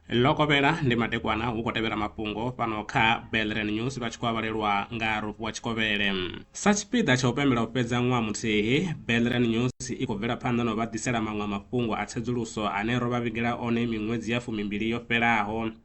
ḽo kovhela ndi madekwana hu khou tevhela mafhungo fhano kha belren news vha tshi khou avhalelwa nga rufhiwa tshikovhele sa tshipiḓa tsha u pembela u fhedza ṅwaha muthihi belren news i khou bvela phanḓa na u vha ḓisela maṅwe mafhungo a tsedzuluso ane ro vha vhigela one miṅwedzi ya fumimbili yo fhelaho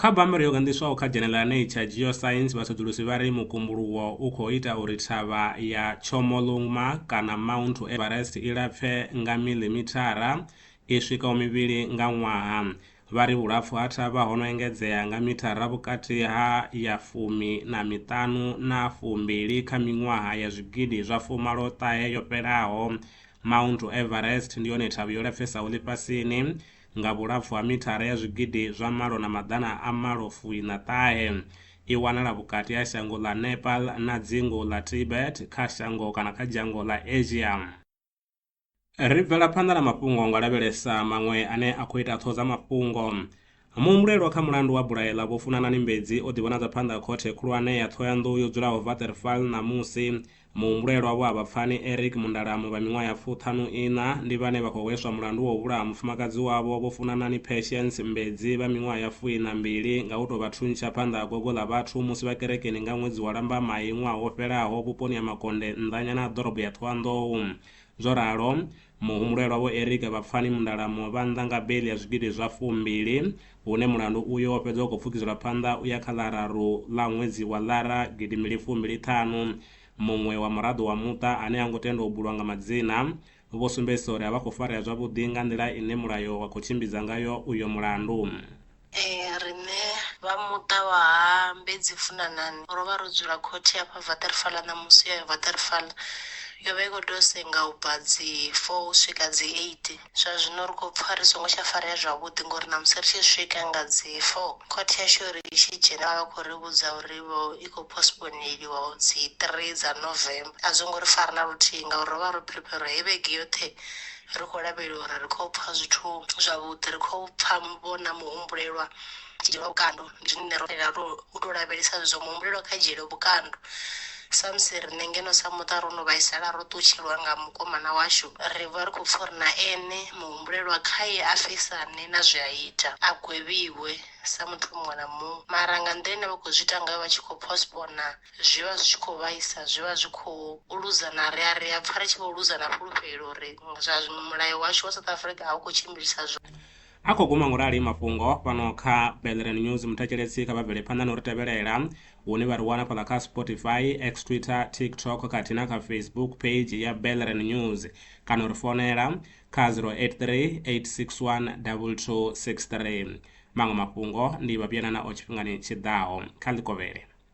Kha bammbiri yo ganḓiswaho kha dzhenele ḽa Nature Geoscience, vhasedzulusi vha ri mukumbuluwo u khou ita uri thavha ya Chomolungma kana Mount Everest i lapfe nga miḽimithara i swikaho mivhili nga ṅwaha. Vha ri vhulapfu ha thavha ho no engedzea nga mithara vhukati ha ya fumi na miṱanu na fumbili kha miṅwaha ya zwigidi zwa fumalo ṱahe yo fhelaho. Mount Everest ndi yone thavha yo lapfesaho ḽifhasini. nga vhulapfu ha mithara ya zwigidi zwa malo na maḓana a malo fuiṋa ṱahe. I wanala vhukati ha shango ḽa Nepal na dzingu ḽa Tibet kha shango kana kha dzhango ḽa Asia. Ri bvela phanḓa na mafhungo nga u lavhelesa maṅwe ane a khou ita ṱhoho dza mafhungo. Muhumbulelwa kha mulandu wa bulayo ḽa Vho Funanani Mbedzi o ḓivhonadza phanḓa ha Khothe Khulwane ya Ṱhohoyanḓou yo dzulaho Waterval ṋamusi Muhumbulelwa vho Habapfani Eric Mundalamu vha miṅwaha ya fuṱhanu iṋa ndi vhane vha khou hweswa mulandu wa u vhulaha mufumakadzi wavho Vho Funanani Patience Mbedzi vha miṅwaha ya fuiṋa mbili nga u tou vha thuntsha phanḓa ha gogo ḽa vhathu musi vha kerekeni nga ṅwedzi wa Lambamai ṅwaha wo fhelaho vhuponi ha Makonde nnḓanyana ha ḓorobo ya Thohoyandou. Zwo ralo, Muhumbulelwa Vho Eric Vhapfani Mundalamuwa vha nnḓa nga beiḽi ya zwigidi zwa fumbili, hune mulandu uyo wo fhedza u khou pfukiselwa phanḓa u ya kha ḽa raru ḽa ṅwedzi wa Ḽara gidi mbili fumbili ṱhanu. Muṅwe wa muraḓo wa muṱa ane ha ngo tendwa u bulwa nga madzina, vho sumbedzisa uri a vha khou farea zwavhuḓi nga nḓila ine mulayo wa khou tshimbidza ngayo uyo mulandu. Ee, riṋe vha muṱa wa ha Mbedzi Funanani ro vha ro dzula khothe ya fha Vaterfala ṋamusi yo ya Vaterfala yo vha i khou tou senga u bva dzi 4 u swika dzi 8. Zwa zwino ri khou pfa ri songo tsha farea zwavhuḓi ngori ṋamusi ri tshi swika nga dzi 4 khothe yashu uri i tshi dzhena vha vha khou ri vhudza uri vho i khou postponeliwa u dzi 3 dza November. A zwo ngo ri fara na luthihi ngauri ro vha ro prepare uri heyi vhege yoṱhe ri khou lavhelela uri ri khou pfa zwithu zwavhuḓi ri khou pfa vhona muhumbulelwa dzhielwa vhukando ndi zwine ro tea ro u to lavhelesa zwezwo muhumbulelwa kha dzhiele vhukando samusi riṋe ngeno sa muṱa ro no vhaisala ro ṱutshelwa nga mukomana washu ri vha ri khou pfa uri na ene muhumbulelwa khaye a fesane na zwe a ita a gwevhiwe sa muthu muṅwe na muṅwe mara nga nḓila ine vha khou zwi ita ngayo vha tshi khou postpona zwi vha zwi tshi khou vhaisa zwi vha zwi khou luza na ri a ri a pfha ri tshi vho luza na fhulufhelo uri zwa mulayo washu wa south africa a u khou tshimbilisa zwo a khou guma ngorali mafhungo fhano kha belran news muthatsheletsi kha vha bvele phanḓa na uri tevhelela hune vha ri wana fhaḽa kha spotify x twitter tiktok khathihi na kha facebook page ya belran news kana uri fonela kha 083 861 2263 maṅwe mafhungo ndi vha vhuyanana o tshifhingani tshiḓaho kha ḽikovhele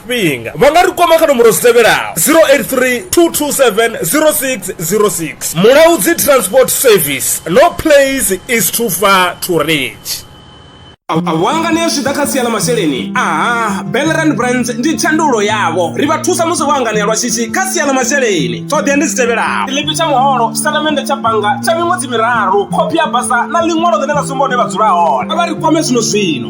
tshifhinga vha nga ri kwama kha nomboro dzi tevhelaho 083 227 0606 mulaudzi transport service no place is too far to reach wangane zwi ḓa kha sia ḽa masheleni aha belran brands ndi tshandulo yavho ri vha thusa musi vho anganea lwa shishi kha sia ḽa masheleni ṱhoḓea ndi dzi tevhelaho tshiḽipi tsha muholo tshitatamennde tsha bannga tsha miṅwedzi miraru khophi ya basa na ḽiṅwalo ḽine ḽa sumba hune vha dzula hone a vha ri kwame zwino zwino